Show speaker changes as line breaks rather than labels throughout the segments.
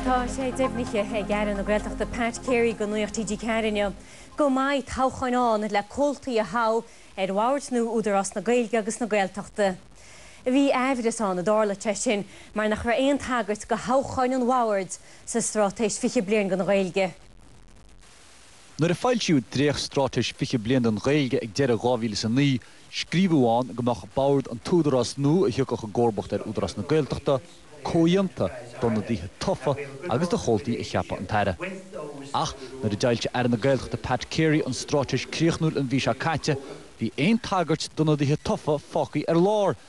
Tá sé deimhnithe ag Aire na Gaeltachta Pat Carey go Nuacht TG4 inniu go mbeidh toghcháin ann le comhaltaí a thoghadh ar bhord nua Údarás na Gaeilge agus na Gaeltachta. Bhí amhras ann an dtarlódh sé sin mar nach raibh aon tagairt do thoghcháin an bhoird sa Straitéis 20 Bliain don Ghaeilge. Nuair a foilsíodh Dréacht Straitéis 20 Bliain don Ghaeilge ag deireadh 2009, scríobhadh ann go mbeadh Bord an Údarás nua a thiocfadh i gcomharbacht ar Údarás na Gaeltachta, comhdhéanta d'ionadaithe tofa agus de chomhaltaí a cheapfadh an tAire. Ach nuair a d'fhoilsigh Aire na Gaeltachta Pat Carey an straitéis chríochnúil an mhí seo caite, bhí aon tagairt d'ionadaithe tofa fágtha ar lár!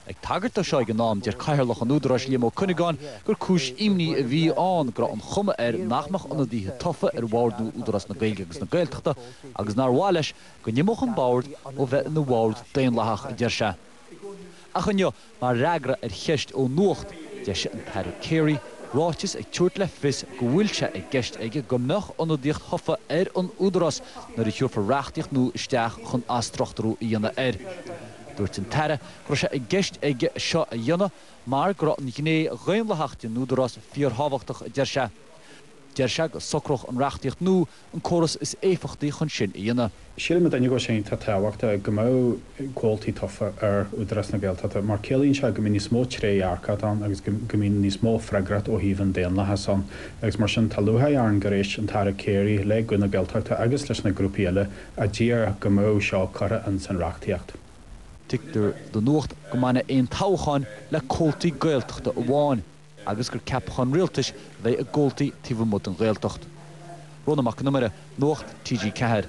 Ag tagairt dó seo ag an am, deir Cathaoirleach an Údaráis Liam Ó Cuinneagáin gur cúis imní a bhí ann go raibh an chuma air nach mbeadh ionadaithe tofa ar bhord nua Údarás na Gaeilge agus na Gaeltachta agus nár mhaith leis go n-imeodh an bord ó bheith ina bhord daonlathach, a deir sé. Ach inniu, mar fhreagra ar cheist ó Nuacht, d'eisigh an tAire Carey ráiteas ag tabhairt le fios go bhfuil sé i gceist aige go mbeadh ionadaíocht thofa ar an Údarás nuair a thabharfar reachtaíocht nua isteach chun athstruchtúrú a dhéanamh air. Dúirt an tAire go raibh sé i gceist aige seo a dhéanamh mar go raibh an ghné dhaonlathach den Údarás fíorthábhachtach a deir sé. Deir sé go socródh an reachtaíocht nua an córas is éifeachtaí chun sin a dhéanamh. Sílim mar dhuine go sé an-tábhachtach go mbeadh comhaltaí tofa ar Údarás na Gaeltachta mar ciallaíonn sé go mbeidh níos mó trédhearcacht ann agus go mbeidh níos mó freagracht ó thaobh an daonlathas ann agus mar sin tá lúcháir orainn gur éist an tAire Carey le Guth na Gaeltachta agus leis na grúpaí eile A d'iarr go mbeadh seo curtha in san reachtaíocht. Tuigtear do Nuacht go mbainfeadh aon toghcháin le comhaltaí Gaeltachta amháin agus gur ceapacháin rialtais a bheidh i gcomhaltaí taobh amuigh den Ghaeltacht. Rónán Mac Con Iomaire, Nuacht TG4.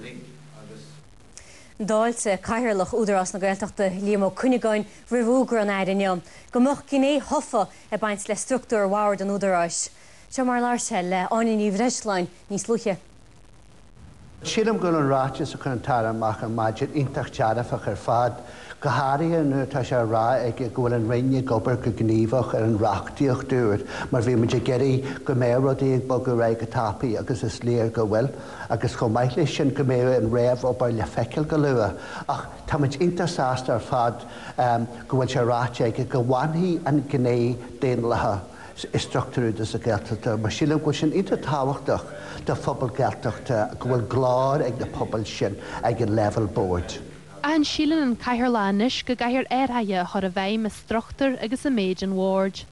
D'fháiltigh Cathaoirleach Údarás na Gaeltachta, Liam Ó Cuinneagáin, roimh fhógra an Aire inniu go mbeadh gné thofa ag baint le structúr Bhord an Údaráis. Seo mar a labhair sé le Áine Ní Bhreisleáin níos luaithe. Sílim go bhfuil an ráiteas a chuir an tAire amach ar maidin iontach dearfach ar fad, go háirithe nuair atá sé ag rá aige go bhfuil an Roinn ag obair go gníomhach ar an reachtaíocht úr mar bhí muid ag iarraidh go mbeadh rudaí ag bogadh ar aghaidh go tapaidh agus is léir go bhfuil agus chomh maith leis sin go mbeidh an réamhobair le feiceáil go luath. Ach tá muid iontach sásta ar fad go bhfuil sé ráite aige go bhfanfaidh an gné daonlathach. i struchtúr Údarás na Gaeltachta mar sílim go bhfuil sin iontach tábhachtach do phobail Ghaeltachta go bhfuil glór ag na pobail sin ag an leibhéal boird. Ach an síleann an cathaoirleach anois go gcaithfear athraithe a chur i bhfeidhm i struchtúr agus i méid an bhoird?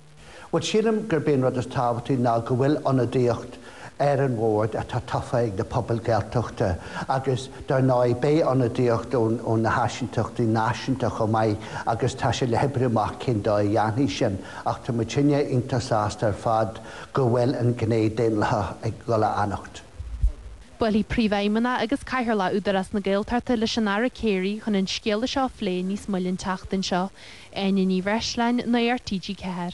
Bhuel sílim gurb é an rud is tábhachtaí ná go bhfuil ionadaíocht ar an bhord atá tofa ag na pobail Ghaeltachta agus dar ndóigh beidh ionadaíocht ó na háisínteachtaí náisiúnta chomh maith agus tá sé le hoibriú amach cén dóigh a dhéanfaidh sin ach tá muidinne iontach sásta ar fad go bhfuil an ghné daonlathach ag dul a fhanacht. Buailfidh Príomhfheidhmeannach agus Cathaoirleach Údarás na Gaeltachta leis an Aire Carey chun an scéala seo a phlé níos moille an tseachtain seo. Áine Ní Bhreisleáin, Nuacht TG4.